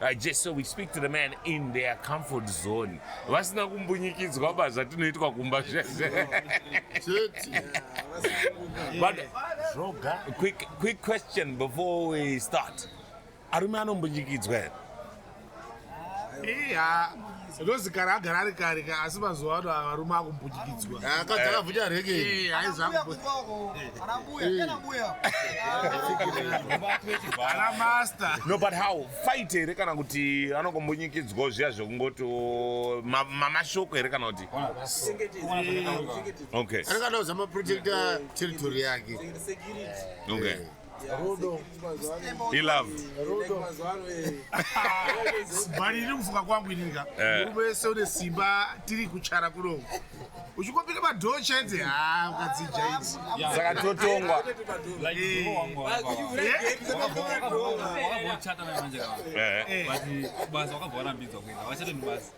I just so we speak to the man in their comfort zone vasina kumbunyikidzwa pa zvatinoitwa kumba but quick, quick question before we start arume anombunyikidzwa here Rose kare agara ari kare ka asi mazuva ano varume akumbudikidzwa. Ah, akadzi akavhunja rege. Eh, aiza kubo. Ana master. No but how fight here kana kuti anokumbunyikidzwa zviya zvekungoti oh, mamashoko here kana kuti. Okay. Anenge anoza ma protector territory yake. Okay. Rudo. He love. Rudo. Bari iri kufunga kwangu ininga. Eh. Rudo yese une simba tiri kuchara kuno. Uchikopira madhoo chaidze ha ukadzija idzi. Saka totongwa. Wakavachata manje. Eh. Basi basi wakavara mbidzo kwenda. Wachata ni basi.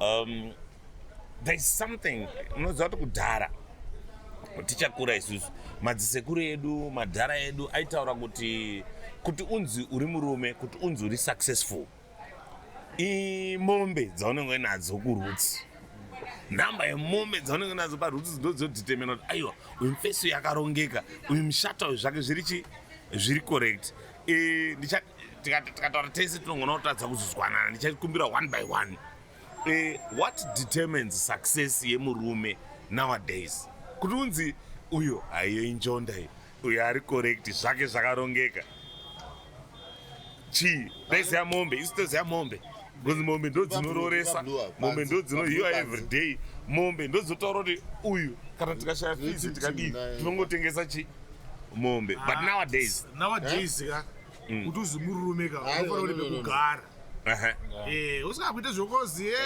um, there is something unoziva kuti kudhara tichakura isusu madzisekuru edu madhara edu aitaura kuti kuti unzi uri murume kuti unzi uri successful imombe dzaunenge uinadzo kurutsi nhamba yemombe dzaunenge uinadzo parutsi dzinodzotitemena kuti aiwa uyu mfesi uyu akarongeka uyu mushata uyu zvake zviri chi zviri correct e, tikataura tese tinogona kutadza kuzozwanana ndichakumbira one by one e, what determines success yemurume nowadays kuti unzi uyo haiyo injonda iyo uyo ari correct zvake zvakarongeka chii ndaiziyamombe isi toziya mombe because mombe ndodzinororesa mombe ndodzinohiwa everyday mombe ndodzotaura kuti uyu kana tikashaya fizi tikadii tinongotengesa chi mombe but ah, nowadays nowadays ka mm. kuti uzi murume ka unofanira kuti pekugara eh, usikakuita zvokozi eh,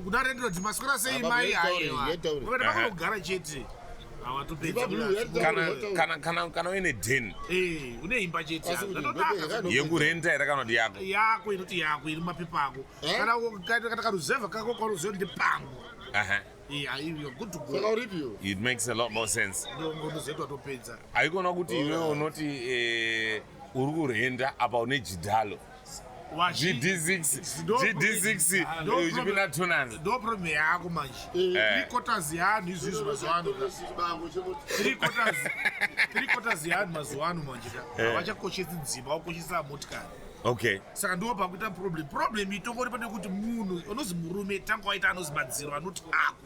kudare ndinoti maswera sei mai aiwa unofanira pakugara chete kana uine den eh, une imba cheteyekurenta here kana kuti yako yako inoti yako iri mapepa ako eh? kana karuzevha kako kwaruziva kuti ndepangu it makes a lot more sense haikona kuti iwe unoti eh, uri kurenda apa une jidhalo ndoproblem yako manje trikotas yeanhu izvizvi mazuvaano trikotas yeanhu mazuvaano manje ka eh. havachakoshesi dzimba vakoshesa motikari okay saka ndiwo pakuita problem problem itongori pane kuti munhu unozi murume tanga waita anozi madziro anoti ako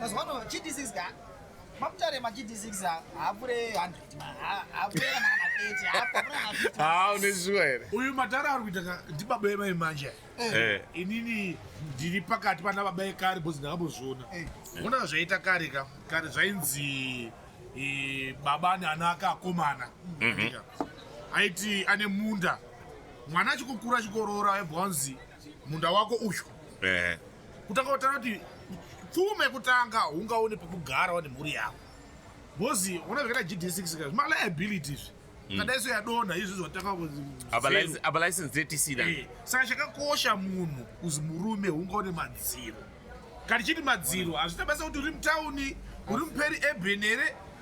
Mazuva ano GD6 ka maputare maGD6 haapure 100 haapure kana kana 30 haapure kana 50. haa une zuva here uyu matara ari kuita ka ndibaba emai manje Eh, inini ndiri pakati pana baba ekare bhozi ndakambozviona Eh. ona zvaita kare ka kare zvainzi eh, baba ane ana ake akomana Ndika. aiti ane munda mwana achikukura achikoroora aibva wanzi munda wako uyu eh, kutanga kutaura kuti pfuma yekutanga ungaone pekugara wane mhuri yako bcoz ona zvakaita gd6 ka zvimaliability izvi hmm. kadaiso yadonha izvi zvatakaabalicense dtisida eh, saka chakakosha munhu kuzi murume ungaone madziro kati chiti madziro hazvita basa kuti uri mutauni uri muperi eben here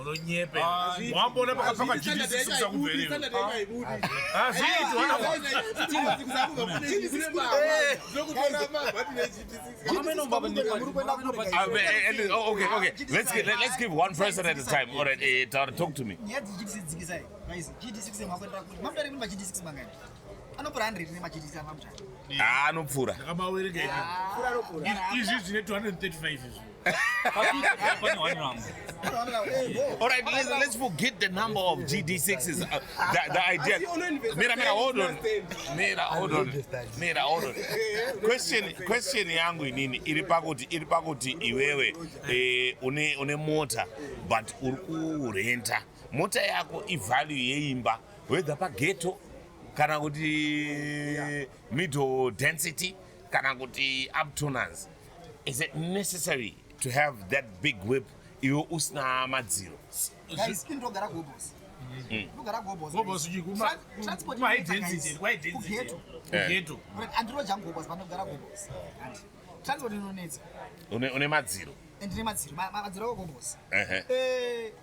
unonyepe ah, wamboona pakapfaka jidisisa kubveri let's give one person at a time all right uh, talk to me anopfura 100 nemachitisa mamcha ah anopfura ndakabawereka ika pfura anopfura izvi zvine 235 izvi All right, let's, let's forget the number of GD6s. Uh, the, the idea. Mira, Mira, hold on. Mira, hold on. Mira, hold on. Question, question yangu inini iri pakuti iri pakuti iwewe eh, une une mota but uri kurenta mota yako ivalue yeimba whether pageto kana kuti middle density kana kuti uptonance is it necessary to have that big whip iwe usina madziro une madziro ndine madziro madziro akogobosi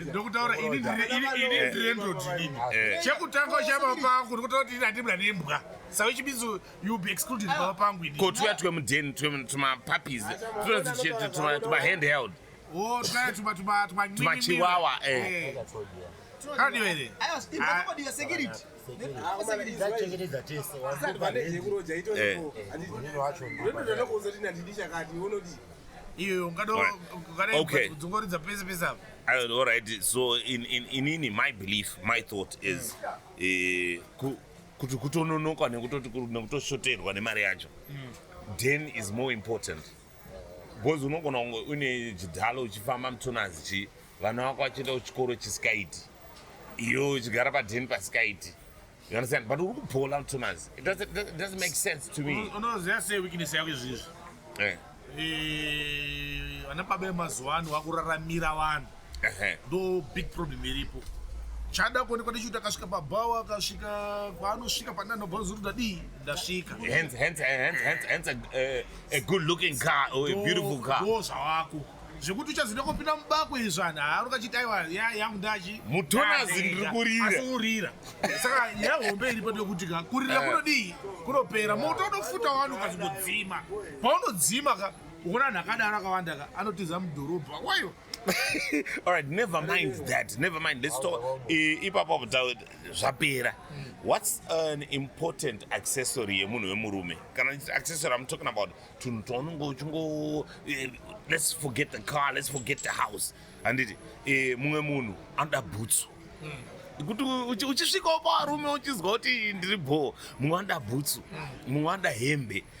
ndokutaura ini ndirendotinini eh. eh. chekutanga chaba pangu ndikutaura kuti ini handibla nembwa sawe chibizo you be excluded pava pangu ini ko tuya twe mudeni tumapuppies tumahand held oh, tumachiwawa eh. kadiwere ndachengetedza tese iyoyo ungadoungadodzungoridza pese pese apa all right so in, in, inini my belief my thought is eh, kuti kutononoka nekutoshoterwa nemari yacho then is more important because unogona kunge une chidhalo uchifamba mutsonazi chi vana vako vachienda kuchikoro chisikaiti iyo uchigara padheni pasikaiti you understand but uri kubhola mutsonazi it doesn't, it doesn't make sense to me unoziva sei weakness yako izvizvi eh. eh, ana baba emazuva ano vakuraramira vanhu ndo big problem iripo chada kuonekwa ndichiuti akasvika pabhawa akasvika paanosvika pandanobazoruda dii ndasvika a good looking car or a beautiful car ndo zvawako zvekuti uchazida kupinda mubako izvani haari ukachiti aiwa yangu ndachi mutonazi ndiri kurira asi urira saka yahombe iri pano yekuti ka kurira eh. kunodii kunopera moto unofuta wani ukazingodzima paunodzima ka ukona anhu akadaro akawanda ka anotiza mudhorobha wayo All right, never mind that. Never mind. Let's talk. Ipapo kutaura zvapera. What's an important accessory yemunhu wemurume? Kana accessory I'm talking about tunhu twaunenge uchingo eh, let's forget the car, let's forget the house. Handiti eh, mumwe munhu anoda bhutsu. Hmm. kuti uchisvikawo pavarume uchinzwa kuti ndiri bhoo mumwe anoda bhutsu hmm. mumwe anoda hembe mm.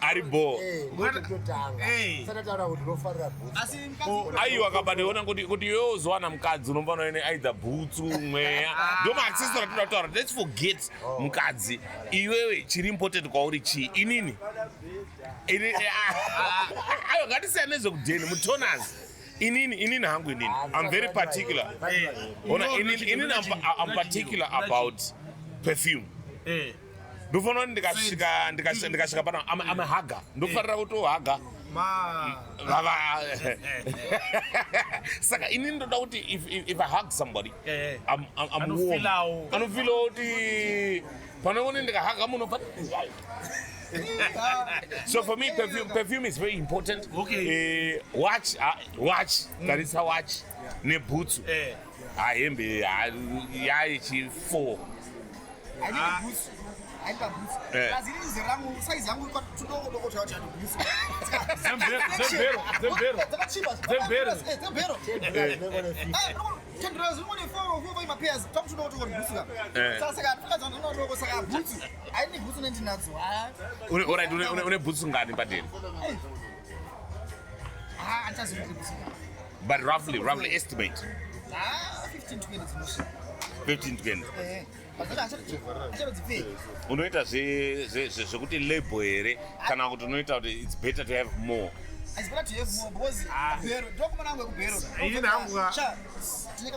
ari bho eh, eh. aiwa kabatoona kuti iwe uzowana mukadzi unombana ine aidha bhutsu mweya ah. ndo maaccessor atoda kutaura let's forget oh. mukadzi iwewe chiri important kwauri chii inini eh, ah, ah, aiwa ngatisiyana nezvekudheni mutonas inini inini hangu inini i'm very particular ona inini i'm particular about perfume ndofanira kuti ndikasvika ndikasvika ndikasvika pana I'm, I'm a hugger ndofanira kutohaga vava saka ini ndoda kuti if, if, if i hug somebody eh. I'm, I'm, I'm warm anofilawo kuti pane kuti ndikahaga munhu fati so for me perfume, perfume is very important okay. uh, watch uh, watch tarisa mm. watch nebhutsu yeah. ha hembe yayechi 4 une bhutsu ngani padeni But roughly, roughly estimate. Ah, 15 to 20 dzinosvika. 15 to 20. Eh. unoita zvekuti label here kana kuti unoita kuti its better to have more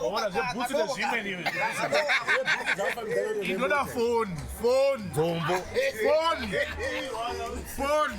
ona zvebhutsu nezvimeniinoda foni foni dzombo foni foni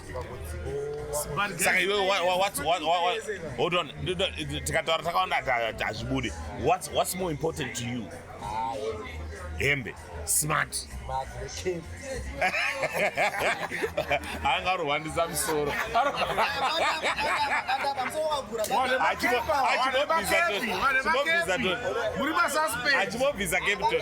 saka iwe hold on tikataura takawanda hazvibudi what's more important to you hembe smart anga arohwandisa musoro achimobvisa capton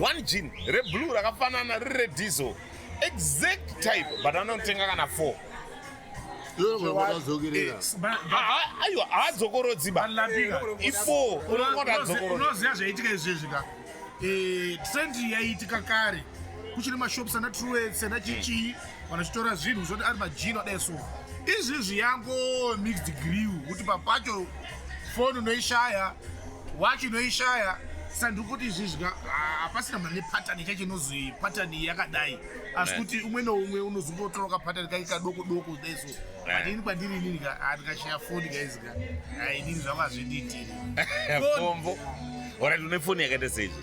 one jean reblue rakafanana riri rediesel exact type but anotenga kana four aiwa haadzokorodzi ba ifo unoziva zvaitika izvezvi ka eh, trend yaiitika kare kuchiri mashops ana truets ana chichii vanachitora zvinhu zvoti ari majini adai so izvizvi yango mixed grill kuti papacho foni unoishaya wachi unoishaya saka ndiri kuti izvizvika hapasina mane patani chacho inozi patani yakadai asi kuti umwe noumwe unozongotora kapatani kake kadoko doko kudai so but ini kwandiri inini andikashaya foni kaizika inini zvangu hazvindiitiri pombo orat une foni yakaita seizvi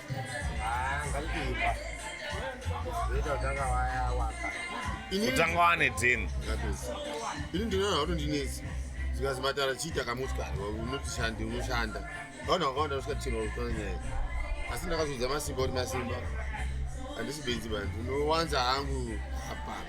kutanga wane deni ini ndinoona kuti ndinetsi zikazi matara chiita kamotikari unotishandi unoshanda vaona vakawanda vasvika tino kutona nyaya asi ndakazodza masimba kuti masimba handisi benzi bani ndinowanza hangu hapana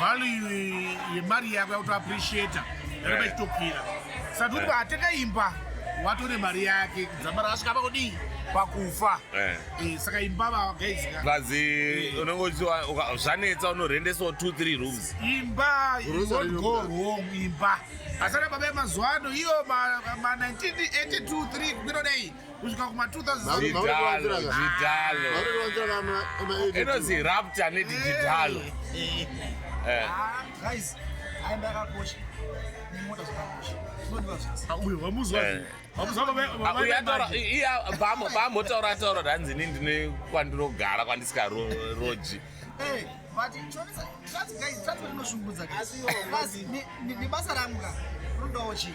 value yemari yako yakuto appreciate yanoba ichitokwira saka tikuti eh. ateka imba watore mari yake dzamba rakasvika pakudii pakufa eh. Eh, saka imba vagaizivazi unenge uchiwa zvanetsa unorhendesawo two three rooms imba go wrong imba asana baba yemazuva ano iyo ma 1982 3 kwinodei kusvika kuma 2000inonzi rapta nedigitalo vamotaura taura hanzi ini ndine kwandirogara kwandisikaroji but transport inoshungudza asi nebasa rangu ka rudawo chii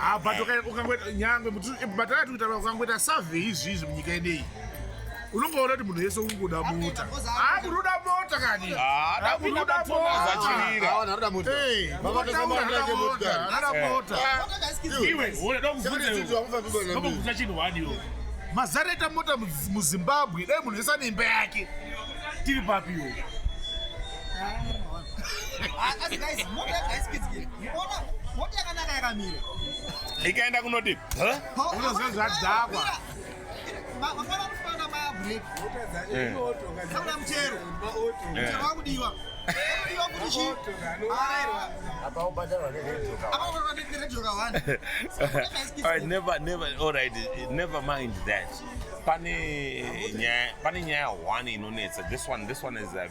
Ah, but ukangoita nyangwe but akati kuita ukangoita survey izvi izvi munyika yedeyi unongoona kuti munhu yese ungoda mota amunoda ah, mota kani mazara ita mota muzimbabwe dai munhu yese ane imba yake tiri papiwo ikaenda kunodii unozozvadzakwa never mind that pane nyaya one inonetsa this one this one is a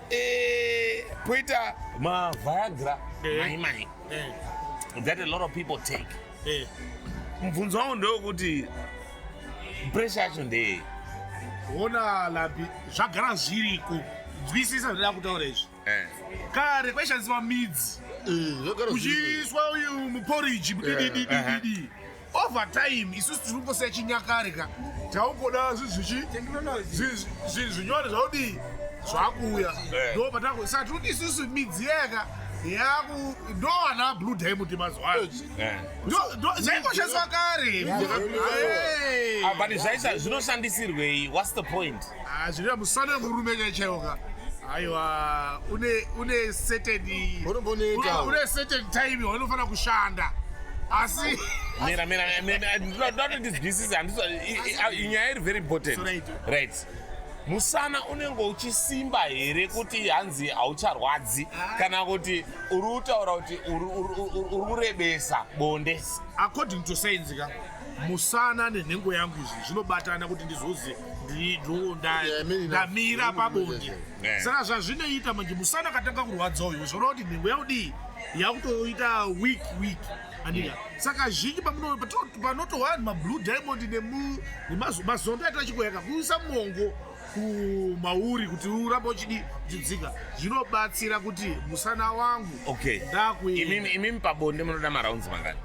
Eh, poita ma viagra eh. mai mai eh. that a lot of people take eh. mubvunzo wangu ndewekuti pressure yacho ndeyei ona labi zvagara zviriko nzwisisa zvoda kutaura izvi eh. kare kwaishandiswa midzi eh, uchiiswa uyu muporiji mudididididi eh, over time isusu tiri kungosiya chinyakare ka taungoda zvinhu zvichi zvinyore zvaudii zvakuuya eh. ndo patango saka tiri kuti isusu midziyo yaka yaku ndo ana blue diamond mazuva ano eh. zvaingoshandiswa kare but zvaisa zvinoshandisirwei whats the point Ah, zvinoita musana murume chai chaiwo ka aiwa une une certain Unomboneta. une certain time waunofanira kushanda asi mira mira mira ndoda kuti ndizwisise handisa nyaya iri very important So right. right musana unenge uchisimba here kuti hanzi haucharwadzi kana kuti uri kutaura kuti uri- uri uri- uri kurebesa bonde according to science ka musana nenhengo yangu izvi zvinobatana kuti ndizoziva ndamira pabonde saka zvazvinoita manje musana katanga kurwadza uyo zvoreva kuti nhengo yaudii yakutoita week week andika saka zhinji panoto vanhu mablue diamond nemazondo aita chikoyaka kuisa mongo kumauri kuti uramba uchidi chidzika zvinobatsira kuti musana wangu okay. ndakuimimi pabonde munoda maraunzi mangani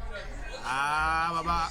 ah, baba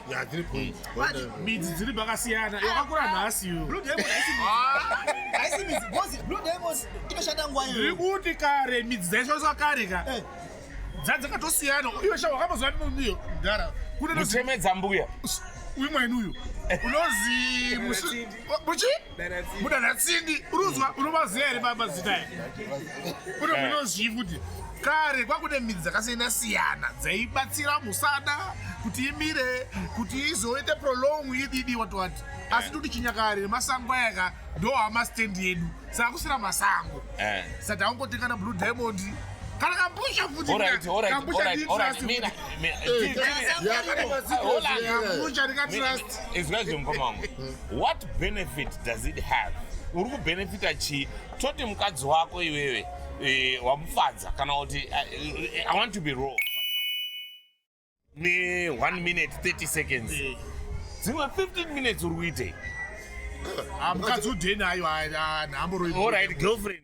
midzi dziri pakasiyana yakakura nhasi iri kuti kare midzi dzaishandiswa kare ka eh. dzadzakatosiyana uyo sha wakamboziva mumio mdara kunechemedza mbuya uyu mwaini uyu unozi muchi mudana tsindi uruzwa unomaziva here baba zita ya kune munozvii kuti kare kwakude midzi dzakasiyana siyana dzaibatsira musada kuti imire kuti izoite prolong ididi wati wati asi toti chinyakare masango ayaka ndo amastendi yedu saka kusina masango eh. saka taungotekana blue diamond kana kambusha futi kambusha nditrust kambusha ndikatrust izvazvo mukoma wangu what benefit does it have uri kubenefita chii toti mukadzi wako iwewe e, wamufadza kana kuti eh, i want to be raw ne 1 minute 30 seconds eh. dzimwe 15 minutes uri kuitei ah, mukadzi udhenayo ah, ah, nhamboroirit girlfriend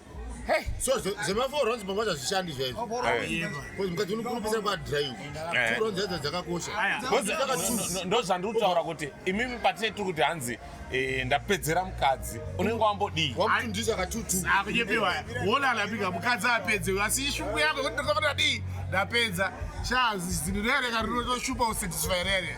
Hey. so zvemafour runs pangwa zvazvishandi zvaizvo bcause mukadzi unokurupisa kwadrive two runs dzadzo dzakakosha ndo zvandiri kutaura kuti imimi patine tiri kuti hanzi eh, ndapedzera mukadzi unenge wambodii wamutundisa katutuakunyepiwa wona alapika mukadzi apedze asi ishungu yako kuti ndakaona dii ndapedza shaa zinhu rereka rinotoshupa usatisfy rere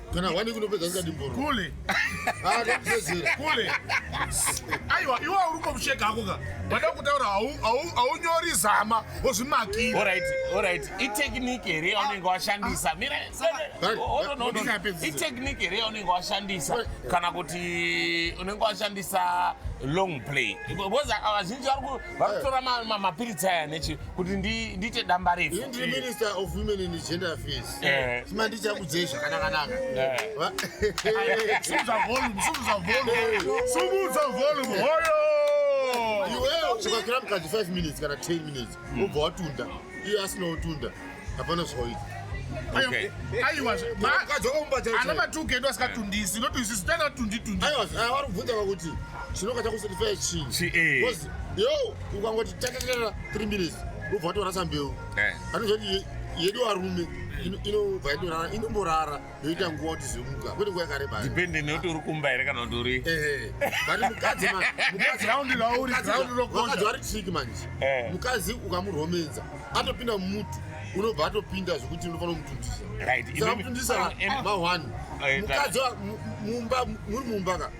kana hwani kunopedza ndikati mboro kule akuzezera kule aiwa iwe uri komusheka hako ka wada kutaura haunyori zama wozvimakira orit orit itechnike here yaunenge washandisa itechnike here yaunenge washandisa kana kuti unenge washandisa long play because vazhinji vari vakutora mapiritsi aya nechi kuti ndiite damba refu ndiri minister of women and gender affairs eh. sima ndichakudzei zvakanakanaka eh. sumudza volume sumudza volume sumudza volume hoyo iwewe ukakira mukadzi 5 minutes kana 10 minutes ubva watunda iye asina kutunda hapana zvaoita ana matuke edu asikatundisi not isu sitani atunditundivari ah, kubvunza vakuti chinoka chakusitifaya chii eh. yo ukangoti tatatara three minutes ubva watorasa mbeu eh. anozoti yedu arume inobva yatorara inomborara yoita nguva kuti zimuka kwete nguva yakareba depende nekuti uri kumba here kana kuti uri mukadzi vari triki manje eh. mukadzi ukamuromedza atopinda mumutu unobva atopinda zvekuti unofanira kumutundisa samutundisa ma1 mukadzi mumba muri mumba ka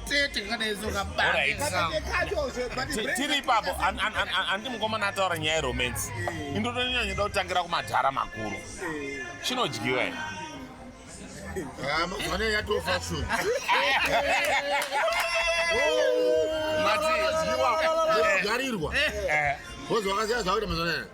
tete kadaezoka tiri ipapo handi mukomana ataura nyaya yeromance eh. indotonyanyoda kutangira kumadhara makuru eh. chinodyiwa i ah, mazuvano yatofa shun garirwa eh. vozovakasiya zvakuita mazuvano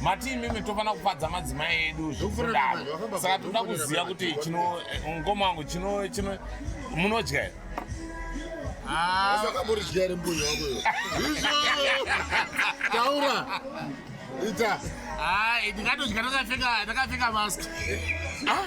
mati imimi tofanira kufadza madzimai edu zvekudaro saka toda kuziva kuti chino eh, ngoma wangu chino chino munodya here akamuridyai ah. mbuya wako taura ita ah, ndingatodya ndakapfeka ndakapfeka mask ah.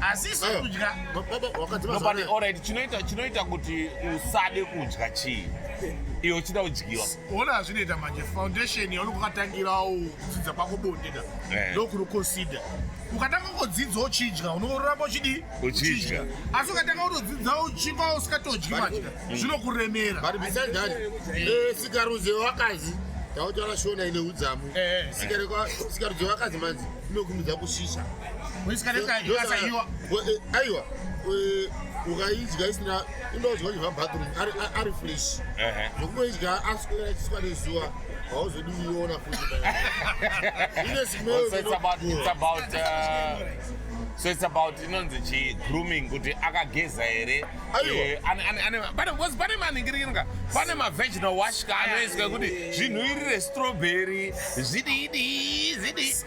asi isu eh, kudya nobody alright chinoita chinoita kuti usade kudya chii iyo uchida kudyiwa ona hazvinoita manje foundation yaunenge ukatangirawo kudzidza kwako bonde da eh. ndokuri consider ukatanga kungodzidza uchidya unoramba uchidii uchidya asi ukatanga kutodzidza uchikwa usikatodyi manje mm. zvinokuremera but besides that eh, sikarudzi wakazi tautaura shona ine udzamu eh, sikarudzi wakazi manzi inokumidza kushisha aiwa ukaidya isina inodya uchiva bathroom ari fresh zvokungoidya aswera achiswa nezuva hauzodi uiona futi ine smell so it's about inonzi chi grooming kuti akageza here eh, pane maningirikiringa pane maveginal washka anoiswa kuti zvinhuirire strawberry zvidii zvidii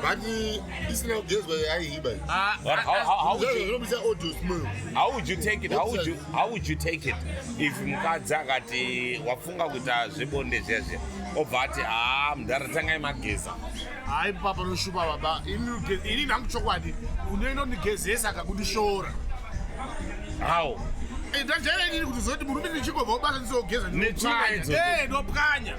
But this now girls were I hit by. Uh, but how, how, how would you, how would you take it? How would you how would you take it if mukadzi akati wafunga kuita zvebonde zviya zviya obva ati haa mudhara tangai mageza hayi papa panoshupa baba ini nangu chokwadi unoenda undigezesa akakundishora how eh, ndajaira inini kuti zoti murume ndichingobva ubasa ndizogeza ndopwanya eh,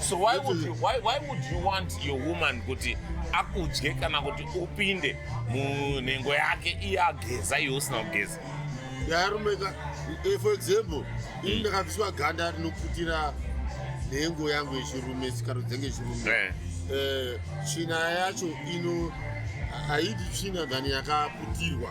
so why would you, why, why would you want your woman kuti akudye kana kuti upinde munhengo yake iye ageza iwe usina kugeza yarumeka eh, for example ini mm. ndakabviswa ganda rinoputira nhengo yangu yechirume sikaro dzenge yechirume eh. Eh, tsvina yacho ino haidi tsvina dhani yakaputirwa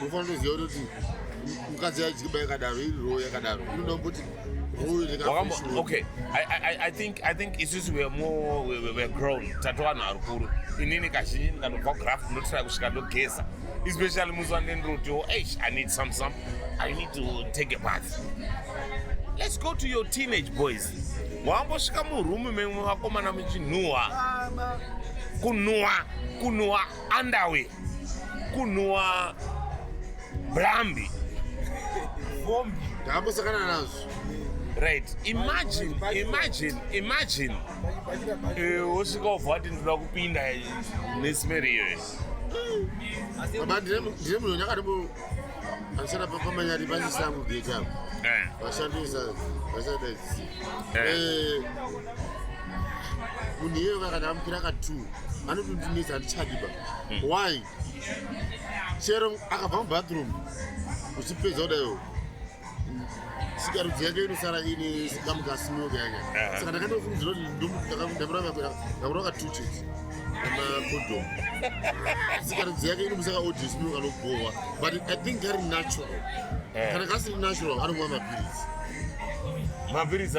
unofanira kuziva kuti mukadzi yaidyba yakadaro iri roo yakadaro inoda kuti okay I, I, i think i think isusu weare more weare grown tatova vanhu varukuru inini kazhinji ndikatobva graph ndotira kusvika ndogeza especially musi wandindirotiwo eish i need some some i need to take a bath let's go to your teenage boys wambosvika murume memwe vakomana muchinhuwa kunhuwa kunhuwa Andawe kunhuwa blambi. Bombi. Ndakambosakana nazvo. Right. Imagine, imagine, imagine. Eh, wosvika wobva wati ndinoda kupinda nesmeri iyoyo. Baba ndine ndine munhu nyakatombo andisana pamanyari pasisangu gate apo. Eh. Vashandisa vasadaidzi. Eh. Eh, munhu iyeyo kakati amukira ka two anotondinetsa handichadiba hmm. why chero akabva mubathroom uchipedza kudaio sikarudzi yake inosara ine kamukasimoka yake eh. saka ndakandofungidzira kuti ndamurava katuches namakodom sikarudzi yake inomusaka odismoka anobhohwa but i think kari natural eh. kana kasiri natural anomwa mapiritsi mapiritsi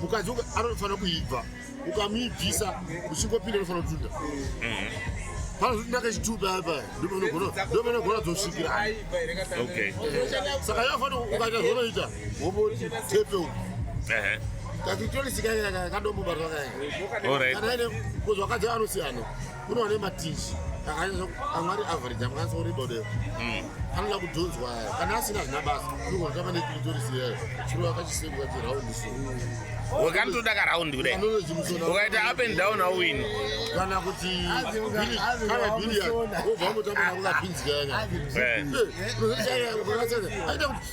mukadzi anofanira kuibva ukamuibvisa uchingopinda unofanira kutunda eh. panozoti ndakachitupi paya paya ndopanogona dzosvikira saka yafanira ukaita zvonoita womoti tepe uku eh. kakitorisikaakadombobarwa kae kana ine kuzvakadzi anosiyana kune vane matishi amwari average amukwanisa kuribodeo hmm. anoda kudhonzwa kana asina zvina basa unogonotamba nekiritorisi yayo chiro akachisenguka chiraundi so wakanotoda karaundi kudai ukaita up and down awini kana kuti kana bilian obva mutamba nakukapinzikayanyaaita kuti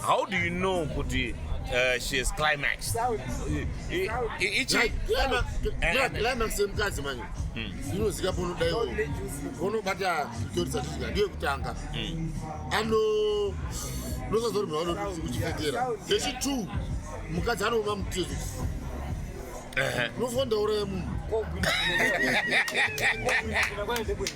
How do you know kuti uh, she is climax? Climax yemukadzi manje hmm. inozika ponodaiwo ponobata kutorisa kusvika ndiyo kutanga hmm. ano ndosazorwa vanokuchipetera zvechitu mukadzi anova mutezo unofandauraya munhu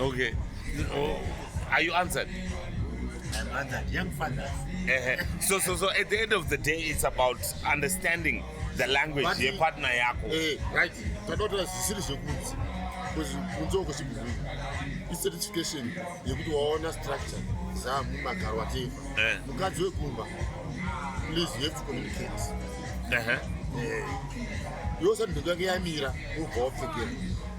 Okay. Oh, are you answered? I'm answered. Young fathers. Uh-huh. So, so, so at the end of the day, it's about understanding the language But- yepartner yako. Eh, right. Tanotora zvisiri zvekunzi. Because kunze uko chibhubhiri. Icertification yekuti waona structure dzamumagaro whatever. Eh. Mukadzi wekumba. Please, you have to communicate. Uh-huh. Eh. Yose ndinhu yange yamira wobva wapfekera.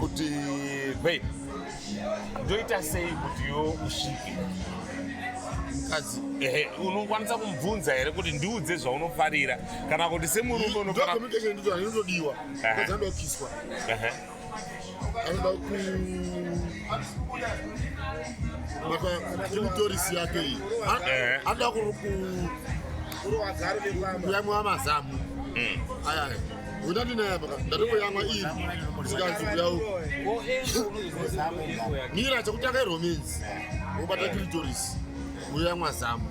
kuti babe ndoita sei kutiwo usvike mukadzi ehe unokwanisa kumubvunza here kuti ndiudze zvaunofarira kana kuti semurume unofanirainotodiwa anoda kukiswa anoda kumatorisi yake iyi anoda kuyamwa mazamu mm. ayaya mira chekutanga iromins obata clitoris uyamwa zamu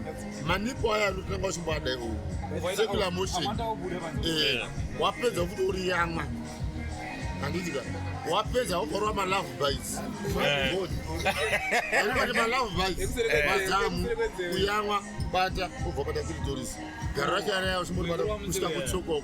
manipo aya anotanga uchimboadai uwu secular motion eh, wapedza kuti uri yamwa handitika wapedza ukorwa malove bites anobati malove bites mazamu kuyamwa bata ubva bata tiri toris gara racho araya uchimboti bata kusvika kutsokoko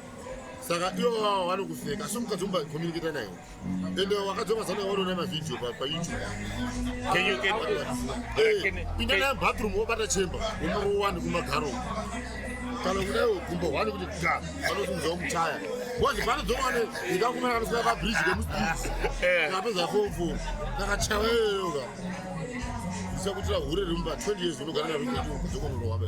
saka ivo vava vanokuseka asi mukadzi umba communicata nayo ende wakadzomasa nayo wanoona mavhideo payoutube eh, pinda nayo bathroom wobata chamber womuro wani kumagaro kana kudayo gumbo hwani kuti ga vanosimudzawo muchaya wazi vanodzowane ndikakumana kanosika pabridge kemusdisi eh. kapedza fomfo kakachawa iyoyoka isakutira hure remumba 20 years unogara narozokononowabe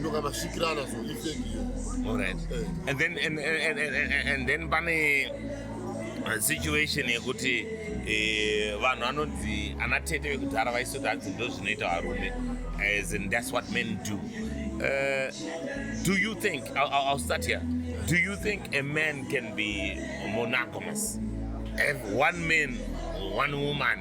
ndokavasvikirana so ifeki iyo all right eh. and then and, and, and, and then pane uh, situation yekuti eh, vanhu anonzi ana tete vekudhara vaisoti hanzi ndo zvinoita varume as in that's what men do uh, do you think I'll, I'll start here do you think a man can be monogamous have one man one woman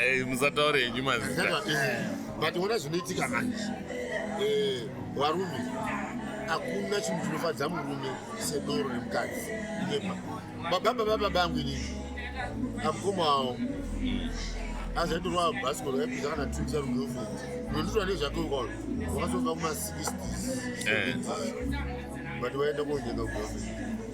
Eh, musataure henyu mazita eh, but ona zvinoitika manje eh, varume hakuna chinhu chinofadza murume sedoro remukadzi inepa bababa baba bangu ini amukoma wavo azaitorwa bhasikoro yaipisa kana tuisa rugirlfriend nonditora nezvake ukolo wakazova kuma 60 but vaenda konyenga kugirlfriend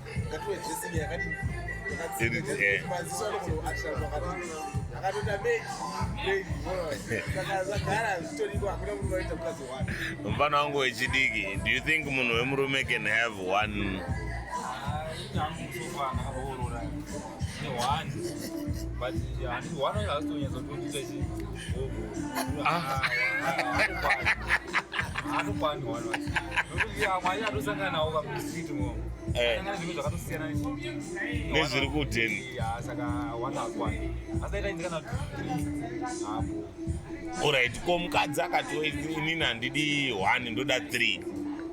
mfana wangu wechidiki do you think munhu wemurume can have one ah, nezviri kudheni orit ko mukadzi akati inini handidi one ndoda three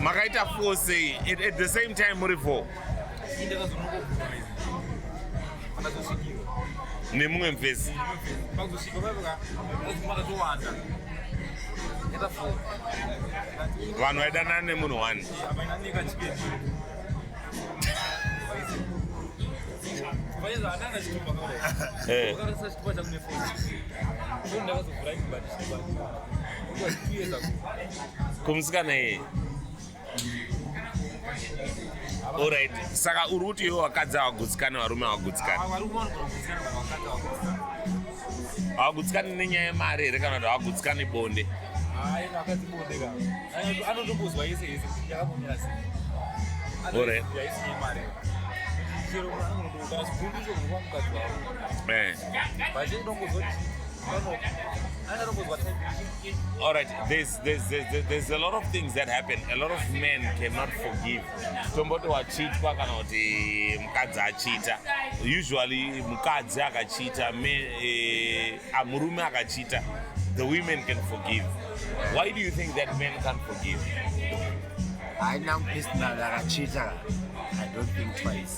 makaita four sei at, at the same time muri four nemumwe mvezi vanhu vaidanana nemunhu one Yeah. kumusikana iye orit saka uri kuti iwe vakadzi havagutsikani varume havagutsikani havagutsikani nenyaya yemari here kana kuti havagutsikani bonde orit All right, there's, there's, there's, there's a lot of things that happen. A lot of men cannot forgive. Tomboti wachitwa kana kuti mukadzi achita. Usually mukadzi akachita, eh, a murume akachita, the women can forgive. Why do you think that men can't forgive? I now personally akachita. I don't think twice.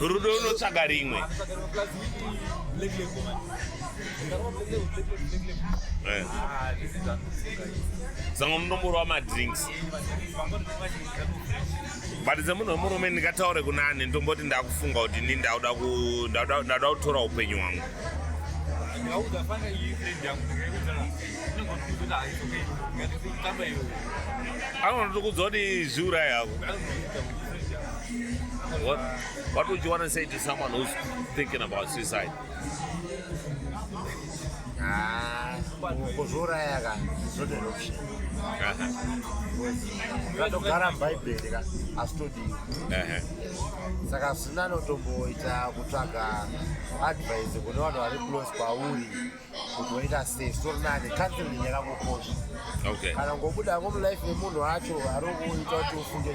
rudo unotsvaga rimwe Eh. Zango munomboro wamadrinks but semunhu wemurume ndingataure kunani ndomboti ndakufunga kuti ni ndauda kutora upenyu hwangu anonotokudza kuti zviurai havo what, what would you want to say to someone who's thinking about suicide kuzviuraya ka zvoderoption zvatogara mubhaibheri ka asi todii saka zina anotomboita kutsvaga advise kune vanhu vari close kwauri kuti waita sei sori nani counseling yakangokosha kana ngobuda ngomulife yemunhu wacho ari kuita kuti ufunge